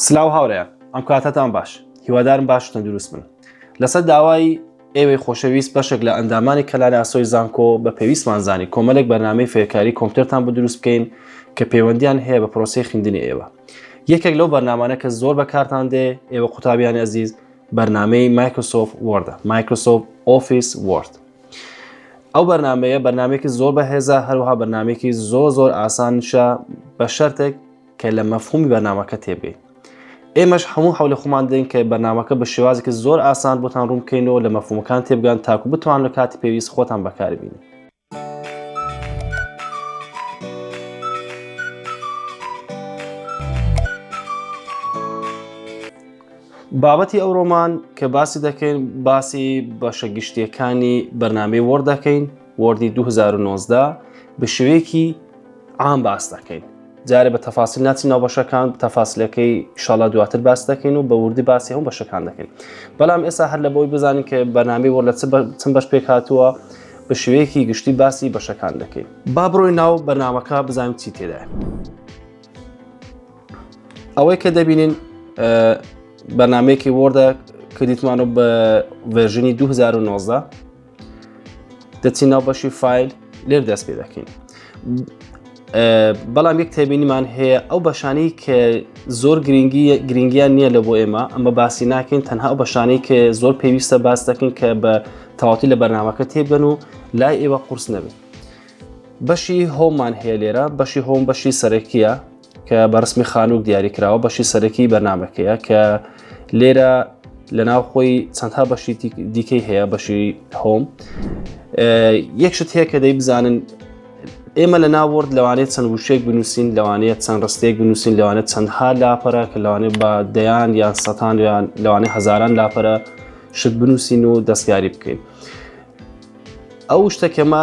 سلاو هاورێیان ئەم کاتەتان باش هیوادارم باش و تەندروست بن لەسەر داوای ئێوەی خۆشەویست بەشێک لە ئەندامانی کەلاری ئاسۆی زانکۆ بە پێویستمان زانی کۆمەلێک بەرنامەی فێرکاری کۆمپیوتەرتان بۆ دروست بکەین کە پەیوەندیان هەیە بە پرۆسی خوێندنی ئێوە یەکێک لەو بەرنمانە کە زۆر بەکارتان دێ ئێوە قوتابیانی ئەزیز بەرنمەی مایکرۆسۆف وردە مایکرۆسۆف ئۆفیس ورد ئەو بەرنمەیە بەرنمێکی زۆر بەهێزە هەروها بەرنمێکی زۆر زۆر ئاسانشە بە شەرتێک کە لە مەفهومی بەرنامەکە تێبگەیت ئێمەش هەموو حول خۆمان دەین کە بەنامەکە بە شێوازێکی زۆر ئاسان بۆتان ڕوون بکەینەوە لە مەفهومەکان تێبگان تاکو بتوان لە کاتی پێویست خۆتان بەکاربین. بابەتی ئەوڕۆمان کە باسی دەکەین باسی بەشە گشتیەکانی بەرنمەی وەڕ دەکەین وۆردی 2019 بشوێکی عام باس دەکەین جارێ بە تەفاسی ناچی ناو بەشەکان تەفاسلەکەی شڵا دواتر باس دەکەین و بە وردی باسی هەم بەشەکان دەکەین بەڵام ئێستا هەر لە بۆی بزانین کە بەنامی وە لە چم بەش پێک هاتووە بە شوەیەکی گشتی باسی بەشەکان دەکەین با بڕۆی ناو بەنامەکە بزانین چی تێدا ئەوەی کە دەبینین بەنامەیەکی وردە کردیتمانە بە ڤێژنی 2019 دەچین ناو بەشی فیل لێر دەست پێ دەکەین بەڵام یەک تێبینیمان هەیە ئەو بەشانی کە زۆر گرنگی گرنگیان نییە لە بۆ ئێمە ئەمە باسی ناکەین تەنها ئەو بەشانی کە زۆر پێویستە باس دەکەین کە بە تەواتی لە بەرنمەکە تێبگەن و لای ئێوە قورس نەبێت بەشی هۆمان هەیە لێرە بەشی هۆم بەشی سەرەکیە کە بە ڕسمی خانووک دیاری کراوە بەشی سەرەکی بەرنمەکەیە کە لێرە لە ناو خۆی چەندها بەشی دیکەی هەیە بەشی هۆم یەکشت هەیە کە دەی بزانن ئێمە لە ناوەرد لەوانێت چەند وشێک بنووسین لەوانەیە چەند ڕستێک بنووسین لەوانێت چەندها لاپەرە کە لەوانێت بە دەیان یان سەتان یان لەوانێ هزاران لاپەرە شت بنووسین و دەستکاری بکەین ئەو شتەکەمە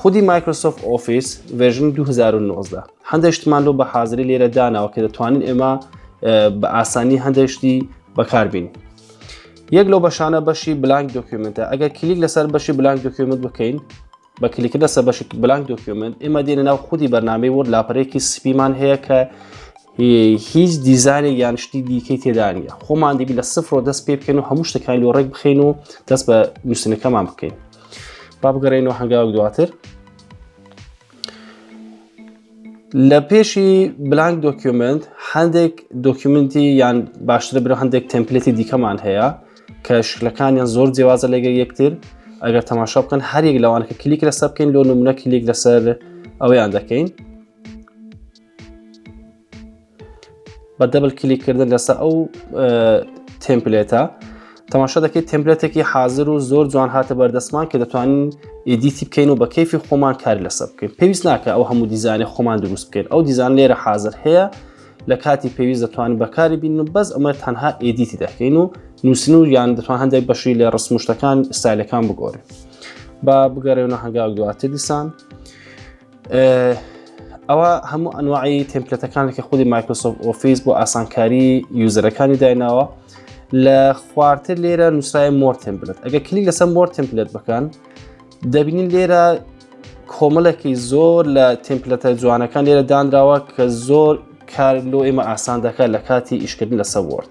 خودی مایکرۆسۆفت ئۆفیس ڤێژنی 2019 هەندێک شتمان لۆ بە حاضری لێرە داناوە کە دەتوانین ئێمە بە ئاسانی هەندێکشتی بەکاربین یەک لەو بەشانە بەشی بلانک دۆکیومنتە ئەگەر کلیک لەسەر بەشی بلانک دۆکیومنت بکەین بە کلیکە لەسەر بەشی بلانک دۆکیومنت ئێمە دێنە ناو خودی بەرنامەی وەرد لاپەرێکی سپیمان هەیە کە هیچ دیزانێ یان شتی دیکەی تێدانە خۆمان دیبی لە سفرۆ دەست پێ بکەن و هەموو شتەکان لۆ ڕێک بخین و دەست بە نووسنەکەمان بکەین با بگەڕێنەوە هەنگاوک دواتر لە پێشی بلانک دۆکیومنت هەندێک دۆکیومنتی یان باشتر برە هەندێک تەمپلێتی دیکەمان هەیە کە شکلەکانیان زۆر جیازە لەگە یەکتر ئەگەر تەماشا بکەن هەرێک لەوان کە کلیک لەسەر بکەین لۆ نمونە کلیک لەسەر ئەویان دەکەین بە دەبل کلیکردن لەسەر ئەو تمپلێتە تەماشا دەکەیت تمپلێتێکی حاضر و زۆر جوان هاتە بەردەستمان کە دەتوانین ئیدیتی بکەین و بە کەفی خۆمان کار لەسەر بکەین پێویست ناکە ئەو هەموو دیزانانی خۆمان دروست بکەین ئەو دیزان لێرە حاضر هەیە لە کاتی پێویست دەتوانین بەکاری بین و بەس ئەمە تەنها ئیدیتی دەکەین و نووسن و یان دەتوان هەندێک بەشی لە ڕسمشتەکان ئستایلەکان بگۆڕین با بگەڕێنە هەنگاو دواتر دیسان ئەوە هەموو ئەنواعی تمپلەتەکانێکی خودی مایکرۆسۆف ئۆفیس بۆ ئاسانکاری یوزەرەکانی دایناوە لە خوارتر لێرە نووسای مۆر تمپلت ئەگە کلی لەسەر مۆر تمپلت بکەن دەبینین لێرە کۆمەڵێکی زۆر لە تمپلەتە جوانەکان لێرە دانراوە کە زۆر کار لۆ ئێمە ئاسان دەکات لە کاتی ئیشکردن لەسەر وەرد.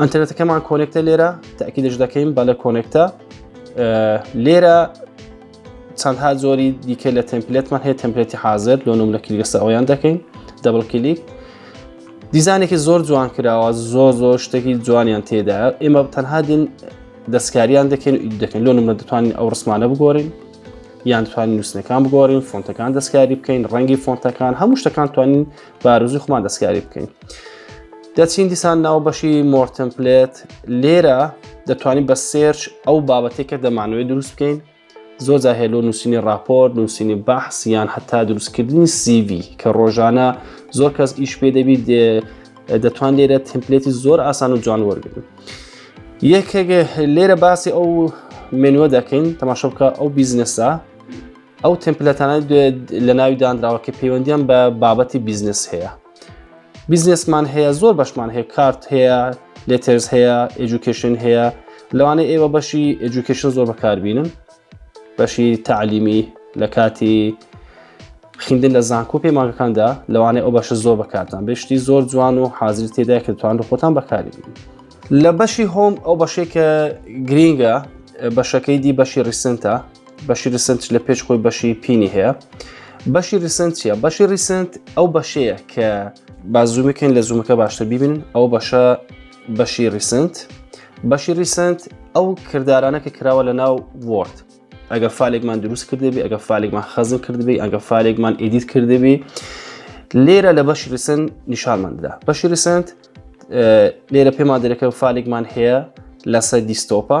ئەتەرەتەکەمان کۆنێکتە لێرە تاکیدش دەکەین بە لە کۆنێکتە لێرە چەندها زۆری دیکە لە تەمپلێتمان هەیە تەمپلێتی حاضر لۆ نم لە کلیگەسە ئەویان دەکەین دەبڵ کلیک دیزانێکی زۆر جوان کراوە زۆر زۆر شتێکی جوانیان تێدا ئێمە تەنها دین دەستکاریان دەکەن و دەکەن لۆ نمە دەتوانین ئەو ڕسمانە بگۆرین یان توانین نووسنەکان بگۆڕین فۆنتەکان دەستکاری بکەین ڕەنگی فۆنتەکان هەموو شتەکان توانین بارزوی خۆمان دەستکاری بکەین دەچین دیسان ناو بەشی مۆرتن پلێت لێرە دەتوانین بە سێرچ ئەو بابەتێکە دەمانوێت دروست بکەین زۆر زاهێلۆ نووسینی راپۆرت نووسینی بەحس یان هەتا دروستکردنی سیV کە ڕۆژانە زۆر کەس ئیش پێ دەبیت دەتوان لێرە تمپلێتی زۆر ئاسان و جوان وەرگن یەکێک لێرە باسی ئەو منوە دەکەین تەماشە بکە ئەو بیزنسە ئەو تمپلەتانە دوێت لە ناوی دانراوە کە پەیوەندیان بە بابەتی بیزنس هەیە بیزنسمان هەیە زۆر بەشمان هەیە کارت هەیە لێترز هەیە ئەجوکیشن هەیە لەوانەیە ئێوە بەشی ئەجوکیشن زۆر بەکاربینن بەشی تعلیمی لە کاتی خیندن لە زانکۆ پەیمانەکاندا لەوانەیە ئەو بەشە زۆر بەکارتان بشتی زۆر جوان و حازر تێدا کە توان لە خۆتان بەکاری لە بەشی هۆم ئەو بەشێکە گرینگە بەشەکەی دی بەشی ڕیسنتە بەشی ریسنت لە پێش خۆی بەشی پینی هەیە بەشی ریسنت چیە بەشی ریسنت ئەو بەشەیە کە بازوومەکەن لە زوومەکە باشتر ببین ئەو بەشە بەشی ریسنت بەشی ریسنت ئەو کردارانە کە کراوە لە ناو وۆرد ئەگە فالێکمان دروست کردبی ئەگە فالێکمان خەزم کردبی ئەگە فالێکمان ئیدیت کردبی لێرە لە بەشی ریسن نیشانماندا بەشی ریسنت لێرە پێمان دەرەکە فالێکمان هەیە لەسەر دیستۆپە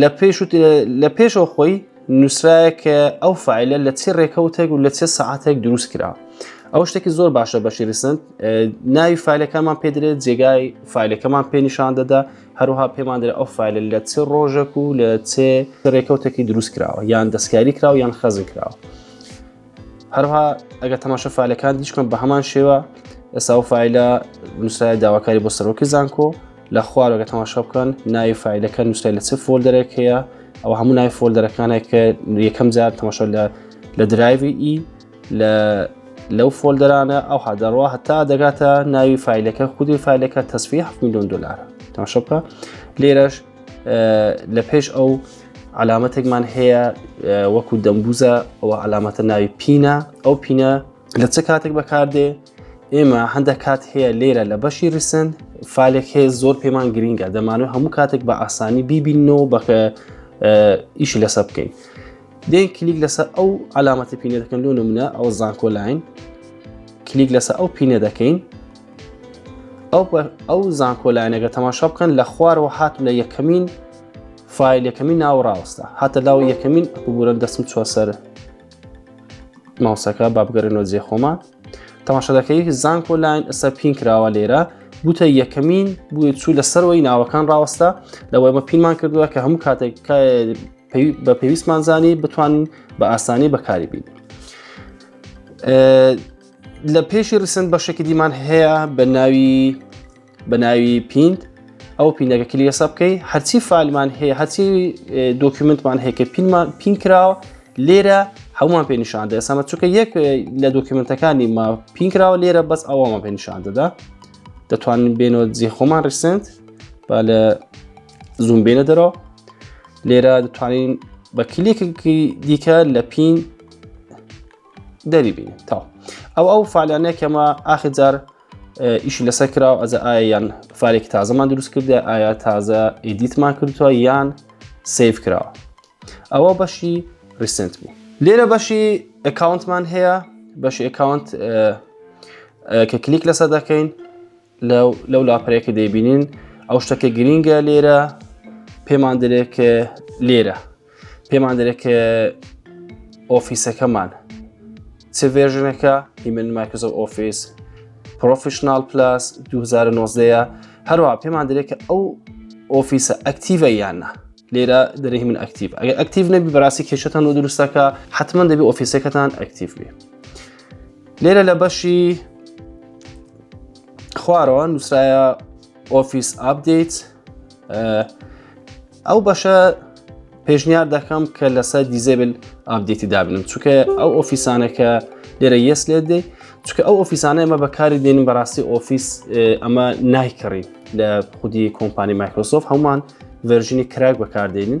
لە پێش و لە پێشەوە خۆی نووسراە کە ئەو فعلە لە چی ڕێکەوتێک و لە چێ سەعاتێک دروست کرا ئەو شتێکی زۆر باشە بەشی ریسند ناوی فعلەکەمان پێدرێت جێگای فعلەکەمان پێنیشان دەدا هەروها پێمان درێت ئەو فعلە لە چێ ڕۆژێک و لە چێ ڕێکەوتێکی دروست کراوە یان دەستکاری کراوە یان خەزی کراوە. هەروها ئەگەر تەماشە فعلەکان دیشکم بە هەمان شێوە ئێسا و فیلە نووسای داواکاری بۆ سەرۆکی زانکۆ لە خوارەگە تەماشا بکەن ناوی فیلەکە نووسای لە چ فۆلدەرێک هەیە ئەو هەموو ناوی فۆلدەرەکانێک کە یەکەم جار تەماشا لە لە درایوی ئی لە لەو فۆلدەرانە ئەو هادەڕوا هەتا دەگاتە ناوی فیلەکە خودی فیلەکە تەسفی 7 میلیۆن دلار تەماشا بکە لێرەش لە پێش ئەو علامەتێکمان هەیە وەکو دەمبوزە ئەوە علامەتە ناوی پینە ئەو پینە لە چ کاتێک بەکاردێ ئێمە هەندە کات هەیە لێرە لە بەشی ریسن فالێک هەیە زۆر پێمان گرینگە دەمانوێت هەموو کاتێک بە ئاسانی بیبینەوە بەکە ئیش لەسە بکەین دێن کلیک لەسەر ئەو علامەتی پینە دەکەن لۆ نمونە ئەو زانکۆلاین کلیک لەسەر ئەو پینە دەکەین ئەو زانکۆلاینەگە تەماشا بکەن لە خوارەوە هات لە یەکەمین فیل یەکەمی ناو ڕاوەستا هاتە لاو یەکەمین ببورە دەسم چوە سەر ماوسەکە بابگەرنەوە جێ خۆمان تەماشەدەکەی زانکۆ لاین ئەسە پین کراوە لێرە بوتە یەکەمین بووە چوو لە سەرەوەی ناوەکان ڕاوەستا لەوەی مە پینمان کردووە کە هەموو کاتێک بە پێویستمان زانی بتوانین بە ئاسانی بەکاری بین لە پێشی ڕسن بەشێکی دیمان هەیە بە ناوی بە ناوی پینت ئەو پینەکە کلی حساب بکەی هەرچی فالمان هەیە هەرچی دۆکیومنتمان هەیە کە پینمان پین کراوە لێرە هەمووان پێ نیشان دە ئێسامە چونکە یەک لە دۆکیومنتەکانی ما پین کراوە لێرە بەس ئەوەمان پێ نیشان دەدا دەتوانین بێنەوە جێ خۆمان ڕیسنت با لە زوم بێنە دەرەوە لێرە دەتوانین بە کلێکی دیکە لە پین دەری بین تا ئەو ئەو فعلانەیە کەمە ئاخر جار ئیشی لەسەر کرا و ئەزە ئایا یان فالێکی تازەمان دروست کردە ئایا تازە ئیدیتمان کردووە یان سیف کرا ئەوە بەشی ریسنت بوو لێرە بەشی ئەکاونتمان هەیە بەشی ئەکاونت کە کلیک لەسەر دەکەین لەو لاپەرەیە کە دەیبینین ئەو شتە کە گرینگە لێرە پێمان دەرێت کە لێرە پێمان دەرێت کە ئۆفیسەکەمان چ ڤێژنەکە هیمن مایکرۆسۆف ئۆفیس پرۆفیشنال پلاس 2009 هەروە پێمان دەرێت کە ئەو ئۆفیسە ئەکتیڤە یاننا لێرە دەرەی من ئەکتیڤ ئەگە ئەکتیڤ نەبی بەڕاستی کێشتان و دروستەکە حتمما دەبی ئۆفیسەکەتان ئەکتیڤ بێ لێرە لە بەشی خوارەوە نووسایە ئۆفیس ئاپدەیت ئەو بەشە پێشنیار دەکەم کە لەسەر دیزێبل ئابدێتی دابنم چونکە ئەو ئۆفیسانەکە لێرە یەس لێ دەی چونکە ئەو ئۆفیسانە ئمە بەکاری دێنین بەڕاستی ئۆفیس ئەمە نایکڕین لە خودی کۆمپانی مایکرۆسۆف هەمان ڤەرژنی کراک بەکاردێنین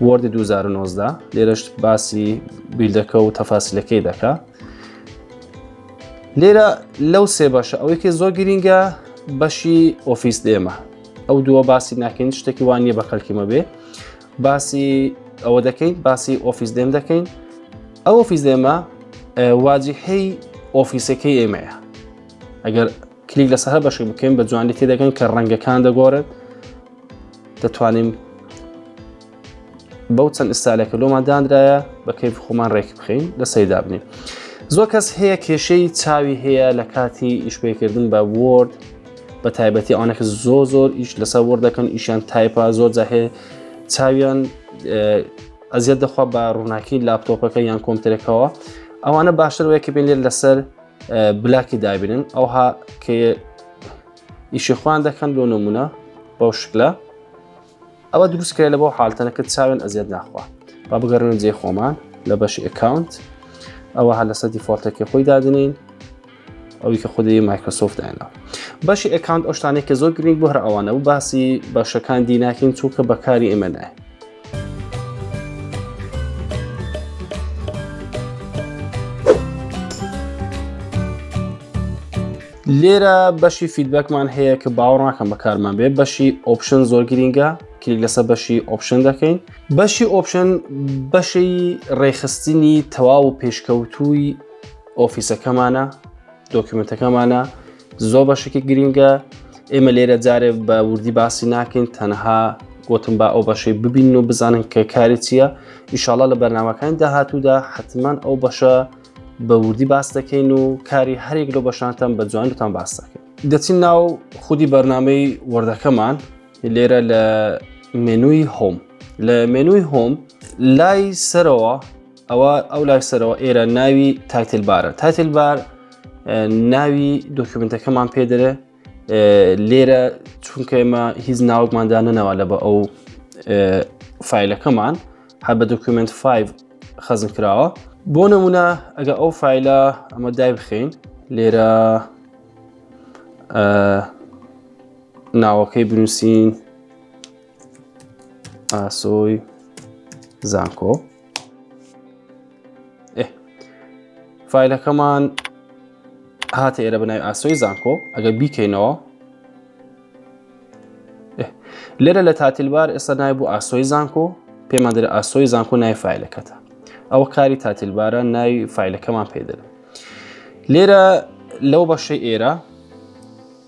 وۆردی 2019 لێرەش باسی بیلدەکە و تەفاسیلەکەی دەکا لێرە لەو سێ بەشە ئەوەیکە زۆر گرینگە بەشی ئۆفیس دێمە ئەو دووە باسی ناکەین شتێکی وان نیە بە کەلکیمە بێ باسی ئەوە دەکەین باسی ئۆفیس دێم دەکەین ئەو ئۆفیس دێمە واجهەی ئۆفیسەکەی ئێمەیە ئەگەر کلیک لەسە هە بەشی بکەین بە جوانی تێدەگەن کە ڕەنگەکان دەگۆڕێت دەتوانین بەو چەند ئستالێکە لۆمان دانرایە بە کەیف خۆمان ڕێک بخین لە سەیدا بنین زۆر کەس هەیە کێشەی چاوی هەیە لە کاتی ئیشپێکردن بە وۆرد بە تایبەتی ئەوانەکە زۆر زۆر ئیش لەسەر وەر دەکەن ئیشیان تایپا زۆر جاهێ چاویان ئەزیەت دەخوا بە ڕووناکی لاپتۆپەکە یان کۆمترەکەەوە ئەوانە باشتر وەیە کە بێنێت لەسەر بلاکی دابنن ئەوها کە ئیشی خوان دەکەن لۆ نمونە بەو شکلە ئەوە دروست کرێ لە بۆ حالتەنەکە چاوێن ئەزیێت ناخوا با بگەرنە جێ خۆمان لە بەشی ئەکاونت ئەوە هە لەسەر دیفۆلتەکە خۆی دادنین ئەوی کە خودی مایکرۆسۆفت دانا بەشی ئەکاونت ئەوشتانێک کە زۆر گرنگ بۆ هەر ئەوانە و باسی باشەکان دی ناکەین چونکە بەکاری ئێمە نایە لێرە بەشی فیدبەکمان هەیە کە باوەڕناکەم بەکارمان بێ بەشی ئۆپشن زۆر گرینگە کلیک لەسەر بەشی ئۆپشن دەکەین بەشی ئۆپشن بەشی ڕێخستنی تەواو و پێشکەوتووی ئۆفیسەکەمانە دۆکیومنتەکەمانە زۆر بەشێکی گرینگە ئێمە لێرە جارێ بە وردی باسی ناکەین تەنها گوتم با ئەو بەشەی ببین و بزانن کە کاری چییە ئیشاڵە لە بەرنمەکانی داهاتوودا حتمما ئەو بەشە بە وردی باس دەکەین و کاری هەرێک لە بەشانتان بە جوانتان باس دەکەین دەچین ناو خودی بەرنمەی وردەکەمان لێرە لە مێنووی هۆم لە مێنووی هۆم لای سەرەوە ئەوە ئەو لای سەرەوە ئێرە ناوی تایتل بارە تایتل بار ناوی دۆکیومنتەکەمان پێدرێ لێرە چونکە ئێمە هیچ ناوەکماندا نەنەوە لە بە ئەو فیلەکەمان هەر بە دۆکیومنت 5 خەزم کراوە بۆ نمونە ئەگە ئەو فیلە ئەمە دای بخین لێرە ناوەکەی بنووسین ئاسۆی زانکۆ فیلەکەمان هاتە ئێرە بنای ئاسۆی زانکۆ ئەگەر بیکەینەوە لێرە لە تاتیلبار ئێستا نای بوو ئاسۆی زانکۆ پێمان دەرە ئاسۆی زانکۆ نای فیلەکەتە ئەوە کاری تاتیلبارە نای فیلەکەمان پێدەن لێرە لەو بەشەی ئێرە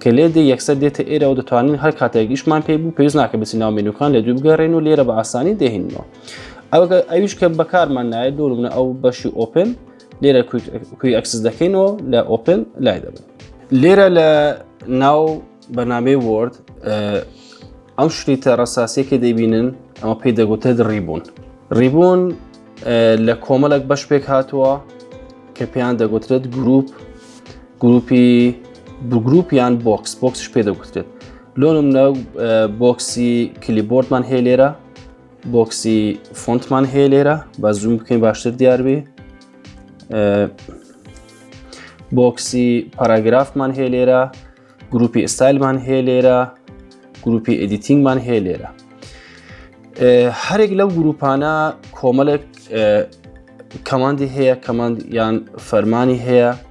کە لێ دێ یەکسەر دێتە ئێرەوە دەتوانین هەر کاتێک ئیشمان پێی بوو پێویست ناکە بچین ناو مێنوکان لە دوو بگەڕێن و لێرە بە ئاسانی دێهینەوە ئەوگە ئەویش کە بەکارمان نایە دوور منە ئەو بەشی ئۆپن لێرە کوی ئەکسس دەکەینەوە لە ئۆپن لای دەبن لێرە لە ناو بەنامەی وۆرد ئەو شریتە ڕساسیەکە دەبینن ئەمە پێی دەگوتە ڕیبوون ڕیبوون لە کۆمەڵک بەش پێک هاتووە کە پێیان دەگوترێت گروپ گروپی بگروپ یان بۆکس بۆکسش پێ دەگوترێت لۆنم نە بۆکسی کلیبۆردمان هەیە لێرە بۆکسی فۆنتمان هەیە لێرە بە زووم بکەین باشتر دیاربێ بۆکسی پاراگرافمان هەیە لێرە گروپی ئستایلمان هەیە لێرە گروپی ئەدیتینگمان هەیە لێرە هەرێک لەو گروپانە کۆمەڵێک کەماندی هەیە کەماند یان فەرمانی هەیە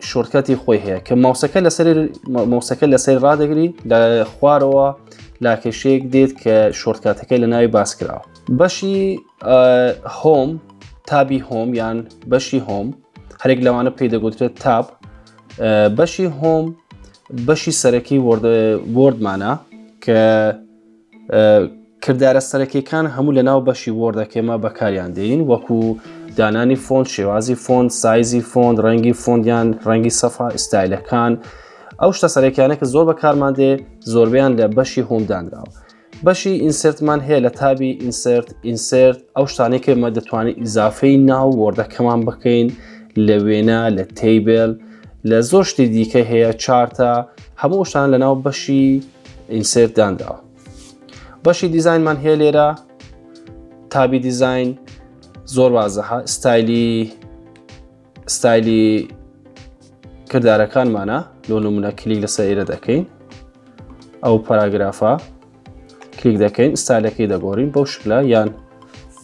شۆرتکەتی خۆی هەیە کە ماوسەکە لەسەر مۆسەکە لەسەر ڕدەگری لە خوارەوە لاکێشەیەک دێت کە شۆرتکاتەکەی لە ناوی باس کراوە بەشی هۆم تابی هۆم یان بەشی هۆم هەرێک لەوانە پێی دەگوترێت تاب بەشی هۆم بەشی سەرەکی وردمانە کە کردارە سەرەکیەکان هەموو لە ناو بەشی وۆردەکەێمە بەکاریان دێین وەکو دانانی فۆند شێوازی فۆند سایزی فۆند ڕەنگی فۆندیان ڕەنگی سەفا ئستایلەکان ئەو شتە سەرەکیانە کە زۆر بەکارمان دێ زۆربیان لە بەشی هۆمدانراوە بەشی ئینسرتمان هەیە لە تابی ئینسرت ئینسرت ئەو شتانەی کە مە دەتوانین ئیزافەی ناو وەردەکەمان بکەین لە وێنە لە تیبل لە زۆر شتی دیکە هەیە چارتە هەموو شتان لە ناو بەشی ئینسێرت دانراوە بەشی دیزینمان هەیە لێرە تابی دیزین زۆر وازەها ستایلی ستایلی کردارەکانمانە لۆ نمونە کلیک لەسەر ئێرە دەکەین ئەو پاراگرافە کلیک دەکەین ستالەکەی دەگۆڕین بەو شکلا یان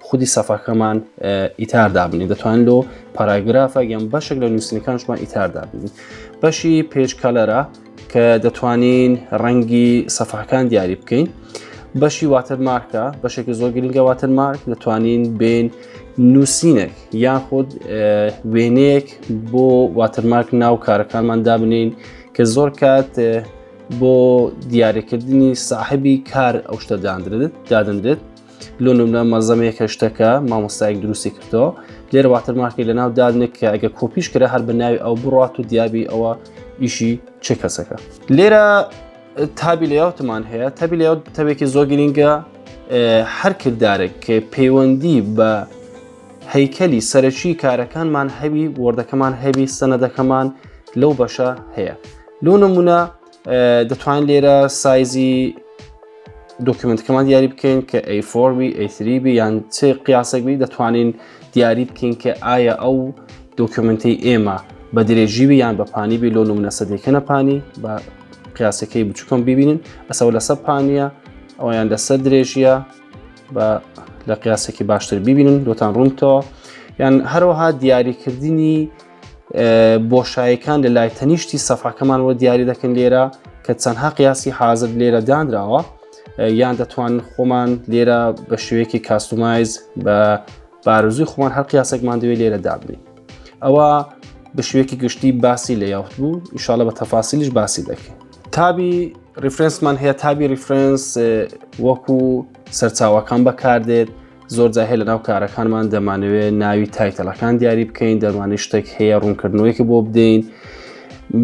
خودی سەفەکەمان ئیتار دابنی دەتوان لۆ پاراگرافە یان بەشێک لە نووسنەکانشمان ئیتار دابنی بەشی پێچ کەلەرە کە دەتوانین ڕەنگی سەفەکان دیاری بکەین بەشی واتر مارکە بەشێکی زۆر گرنگە واتر مارک دەتوانین بین نووسینێک یاخود وێنەیەک بۆ واترمارک ناو کارەکانمان دابنین کە زۆر کات بۆ دیارەکردنی ساحبی کار ئەو شتە دادرێت دادەنرێت لۆ نمرە مەزەمەیە کە شتەکە مامۆستایەک دروستی کردەوە لێرە واتەرمارکی لە ناو دادنێک کە ئەگە کۆپیش کرا هەر بە ناوی ئەو بڕات و دیابی ئەوە ئیشی چ کەسەکە لێرە تابی لەیاوتمان هەیە تابی لە تەوێکی زۆر گرینگە هەر کردارێک کە پەیوەندی بە هەیکەلی سەرەکی کارەکانمان هەوی وردەکەمان هەوی سەنەدەکەمان لەو بەشە هەیە لۆ نمونە دەتوان لێرە سایزی دۆکیومنتکەمان دیاری بکەین کە ئەیفۆرمی ئەیتریبی یان چ قیاسەکبی دەتوانین دیاری بکەین کە ئایا ئەو دۆکیومنتی ئێمە بە درێژیوی یان بە پانی بی لۆ نمونە سەدەکەە پانی بە قیاسەکەی بچووکم ببینین ئەسەوە لەسە پانە ئەویان لەسەر درێژیە بە لە قیاسێکی باشتر ببینن لۆتان ڕوونتەوە یان هەروەها دیاریکردنی بۆشایەکان لە لای تەنیشتی سەفاکەمان وە دیاری دەکەن لێرە کە چەندها قیاسی حازر لێرە دانراوە یان دەتوان خۆمان لێرە بە شوەیەکی کاستومایز بە بارزوی خۆمان هەر قیاسێکمان دوێ لێرە دابنی ئەوە بە شوێکی گشتی باسی لە یاوت بوو ئیشاالە بە تەفاسیلیش باسی دەکەین تابی ریفرنسمان هەیە تابی ریفرنس وەکو سەرچاوەکان بەکاردێت زۆر جاهێ لە ناو کارەکانمان دەمانەوێت ناوی تایتەلەکان دیاری بکەین دەمانی شتێک هەیە ڕوونکردنەوەیکە بۆ بدەین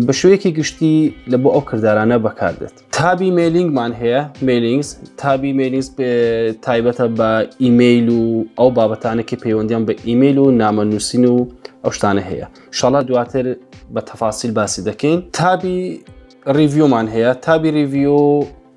بە شوەیەکی گشتی لە بۆ ئەو کردارانە بەکاردێت تابی مێلینگمان هەیە مێلینگز تابی مێلینگز تایبەتە بە ئیممەیل و ئەو بابەتانێکی پەیوەندیان بە ئیممەیل و نامە نووسین و ئەو شتانە هەیە شڵە دواتر بە تەفاسیل باسی دەکەین تابی ریڤیومان هەیە تابی ریڤیو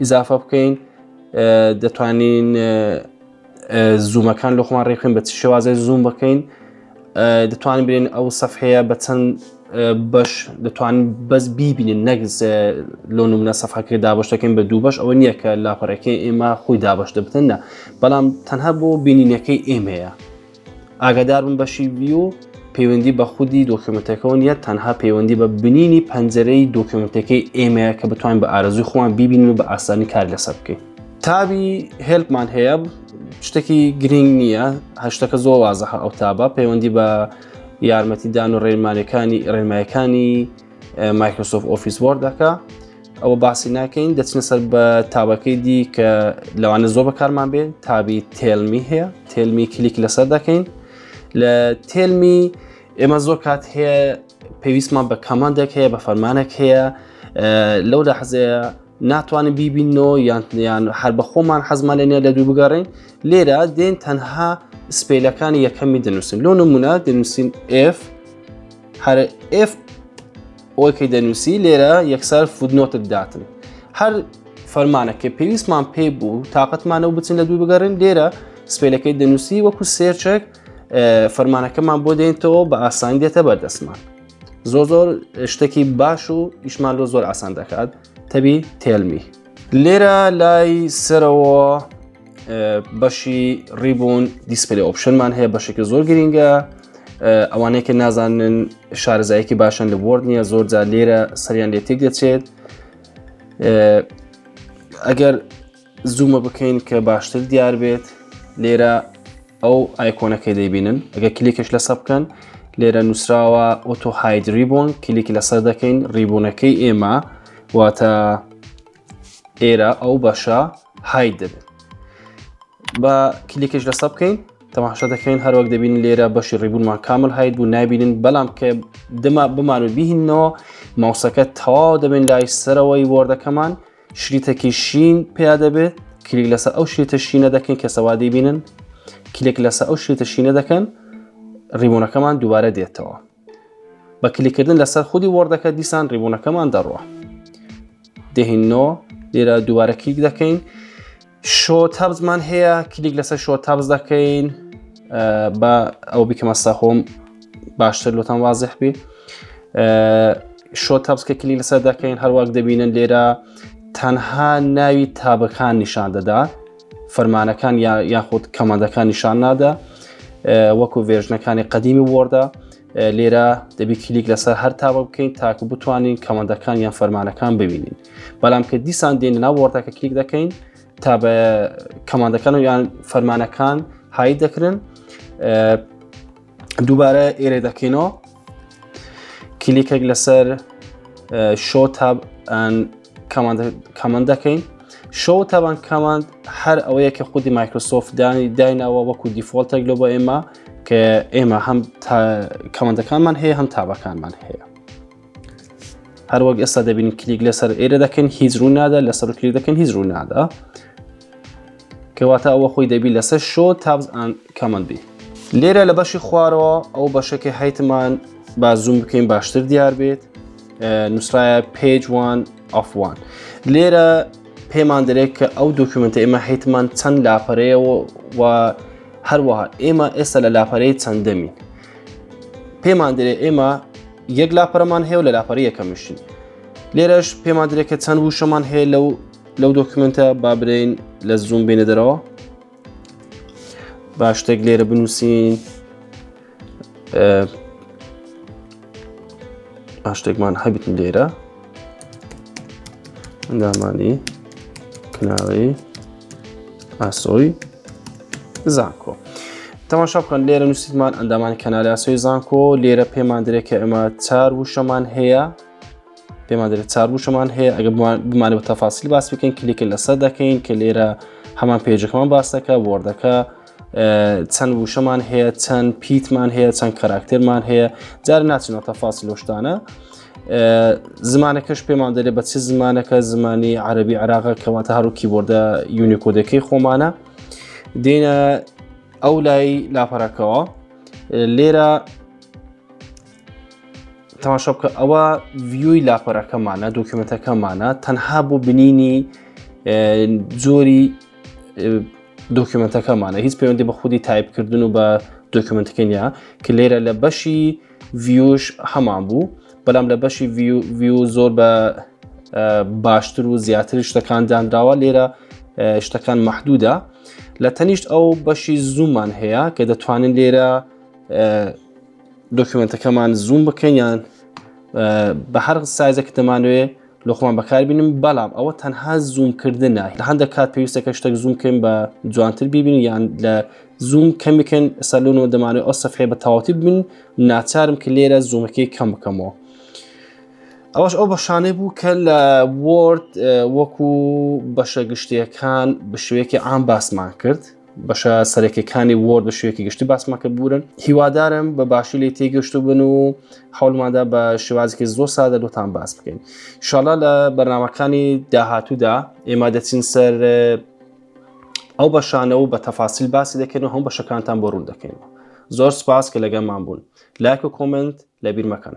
ئیزافە بکەین دەتوانین زوومەکان لە خۆمان ڕێکخین بە چ شێوازە زووم بکەین دەتوانین برێن ئەو سەفحەیە بە چەند بەش دەتوان بەس بیبینن نەک لۆ منە سەفاکە دابش دەکەین بە دوو بەش ئەوە نییە کە لاپەڕەکەی ئێمە خۆی دابش دەبتن نە بەڵام تەنها بۆ بینینەکەی ئێمەیە ئاگاداربن بەشی ڤیو پەیوەندی بە خودی دۆکیومنتەکەەوە نیە تەنها پەیوەندی بە بنینی پەنجەرەی دۆکیومنتەکەی ئێمەیە کە بتوانین بە ئارزوی خۆمان بیبین و بە ئاسانی کار لەسەر بکەین تابی هێلپمان هەیە شتێکی گرنگ نییە هەشتەکە زۆر وازەح ئەو تابە پەیوەندی بە یارمەتیدان و ڕێمانەکانی ڕێمایەکانی مایکرۆسۆف ئۆفیس وەردەکە ئەوە باسی ناکەین دەچنە سەر بە تابەکەی دی کە لەوانە زۆر بەکارمان بێ تابی تێلمی هەیە تێلمی کلیک لەسەر دەکەین لە تێلمی ئێمە زۆر کات هەیە پێویستمان بە کەماندێک هەیە بە فەرمانێک هەیە لەو لە حەزەیە ناتوانین بیبینەوە یانیان هەر بە خۆمان حەزمان لێنە لە دوو بگەڕین لێرە دێن تەنها سپیلەکانی یەکەمی دەنووسین لۆ نمونە دەنووسین F هەر F ئەوەی کە دەنووسی لێرە یەکسەر فودنۆتت داتن هەر فەرمانە کە پێویستمان پێ بوو تااقەتمانەوە بچن لە دوو بگەڕێن لێرە سپێلەکەی دەنووسی وەکو سێرچێک فەرمانەکەمان بۆ دێنتەوە بە ئاسانی دێتە بەردەستمان زۆر زۆر شتێکی باش و ئیشمان لۆ زۆر ئاسان دەکات تەبی تێلمی لێرە لای سەرەوە بەشی ڕیبوون دیسپلی ئۆپشنمان هەیە بەشێکی زۆر گرینگە ئەوانەیە کە نازانن شارزایەکی باشن لە بۆرد نییە زۆر جا لێرە سەریان لێ تێک دەچێت ئەگەر زوومە بکەین کە باشتر دیار بێت لێرە ئەو ئایکۆنەکەی دەیبینن ئەگە کلیکش لەسە بکەن لێرە نووسراوە ئۆتۆ هاید ریبوون کلیکی لەسەر دەکەین ڕیبوونەکەی ئێمە واتە ئێرە ئەو بەشە هاید دەبێت بە کلیکش لەسە بکەین تەماشا دەکەین هەروەک دەبین لێرە بەشی ڕیبوونمان کامل هاید بوو نابینن بەڵام کە دەما بمان و بیهینەوە ماوسەکە تەواو دەبێن لای سەرەوەی وەردەکەمان شریتەکی شین پیا دەبێت کلیک لەسەر ئەو شێتە شینە دەکەن کە سەوادی بینن کلێک لەسەر ئەو شێتە شینە دەکەن ڕیبوونەکەمان دووبارە دێتەوە بە کلیکردن لەسەر خودی وەردەکە دیسان ڕیبوونەکەمان دەڕوە دهینۆ لێرە دووبارە کلیک دەکەین شۆ تابزمان هەیە کلیک لەسەر شۆ تابز دەکەین بە ئەو بیکەمە سەخۆم باشتر لۆتان وازح بی شۆ تابسکە کلی لەسەر دەکەین هەروەک دەبینن لێرە تەنها ناوی تابەکان نیشان دەدا فەرمانەکان یاخود کەمەندەکان نیشان نادا وەکو ڤێژنەکانی قەدیمی وەردە لێرە دەبی کلیک لەسەر هەر تاوە بکەین تاکو بتوانین کەمەندەکان یان فەرمانەکان ببینین بەڵام کە دیسان دێنە ناو وەردەکە کلیک دەکەین تا بە کەماندەکان و یان فەرمانەکان هایی دەکرن دووبارە ئێرە دەکەینەوە کلیکێک لەسەر شۆ تاب کەمان دەکەین شۆ تابان کەماند هەر ئەوەیە کە خودی مایکرۆسۆفت دانی داینەوە وەکو دیفۆلتێک لۆ بۆ ئێمە کە ئێمە هەم کەمەندەکانمان هەیە هەم تابەکانمان هەیە هەروەک ئێستا دەبین کلیک لەسەر ئێرە دەکەن هیچ ڕوو نادا لەسەر کلیک دەکەن هیچ ڕوو نادا کەواتە ئەوە خۆی دەبی لەسەر شۆ تابز ئەند کەمەند بی لێرە لە بەشی خوارەوە ئەو بەشەکە هەیتمان با زوم بکەین باشتر دیار بێت نووسراە پێجوان ئەفوان لێرە پێمان دەرێت کە ئەو دۆکیومنتە ئێمە هەیتمان چەند لاپەرەیەوە و هەروەها ئێمە ئێستا لە لاپەرەی چەندەمین پێمان دەێ ئێمە یەک لاپەرەمان هەیە و لە لاپەری یەکەمشین لێرەش پێمان درێت کە چەند وشەمان هەیە لەو لەو دۆکمنتە با برین لە زوم بینە دەرەوە با شتێک لێرە بنووسین شتێکمان هەبتن لێرە ئەندامانی کناوەی ئاسۆی زانکۆ تەماشا بکەن لێرە نووسیمان ئەندامانی کەنالی ئاسۆی زانکۆ لێرە پێمان درێت کە ئێمە چار وشەمان هەیە پێمان دەێت چار وشەمان هەیە ئەگە بمانە بە تەفاسیل باس بکەین کلیکە لەسەر دەکەین کە لێرە هەمان پێجەکەمان باسەکە وەردەکە چەند وشەمان هەیە چەند پیتمان هەیە چەند کاراکتەرمان هەیە جار ناچنەوە تەفاسی لەو شتانە زمانەکەش پێمان دەێ بە چ زمانەکە زمانی عربی عراقە کەواتە هەرو کیبۆردە یونیکۆدەکەی خۆمانە دێنە ئەو لای لاپەرەکەەوە لێرە تەماشا بکە ئەوە ڤیوی لاپەرەکەمانە دۆکیومنتەکەمانە تەنها بۆ بنینی جۆری دۆکیومنتەکەمانە هیچ پەیوەندی بە خودی تایپکردن و بە دۆکیومنتەکە نیە کە لێرە لە بەشی ڤیوش هەمان بوو بەڵام لە بەشی ڤیو زۆر بە باشتر و زیاتر شتەکان دانراوە لێرە شتەکان محدودە لە تەنیشت ئەو بەشی زوومان هەیە کە دەتوانن لێرە دۆکیومنتەکەمان زووم بکەین یان بە هەر سایزە کە دەمانوێ لۆخۆمان بەکاربینم بەڵام ئەوە تەنها زوومکردنە لە هەندێک کات پێویستە کە شتێک زووم بکەین بە جوانتر ببین یان لە زووم کەم بکەن سەلونەوە دەمانێت ئەو سەفحێ بە تەواتی ببین ناچارم کە لێرە زوومەکەی کەم بکەمەوە ئەوش ئەو بەشانەی بوو کە لە وۆرد وەکو بەشە گشتیەکان بشوێکی ئام باسمان کرد بەشە سەرەکەکانی وۆرد بە شوێکی گشتی باسمان کرد بوورن هیوادارم بە باشی لی تێگەشتو بن و حولماندا بە شێوازێکی زۆر سادە لۆتان باس بکەین شڵا لە بەرنمەکانی داهاتوودا ئێمە دەچین سەر ئەو بەشانەوە بە تەفاسیل باسی دەکەن و هەم بەشەکانتان بۆ ڕوون دەکەین زۆر سپاس کە لەگەمان بوون لایک و کۆمنت لە بیرمەکەن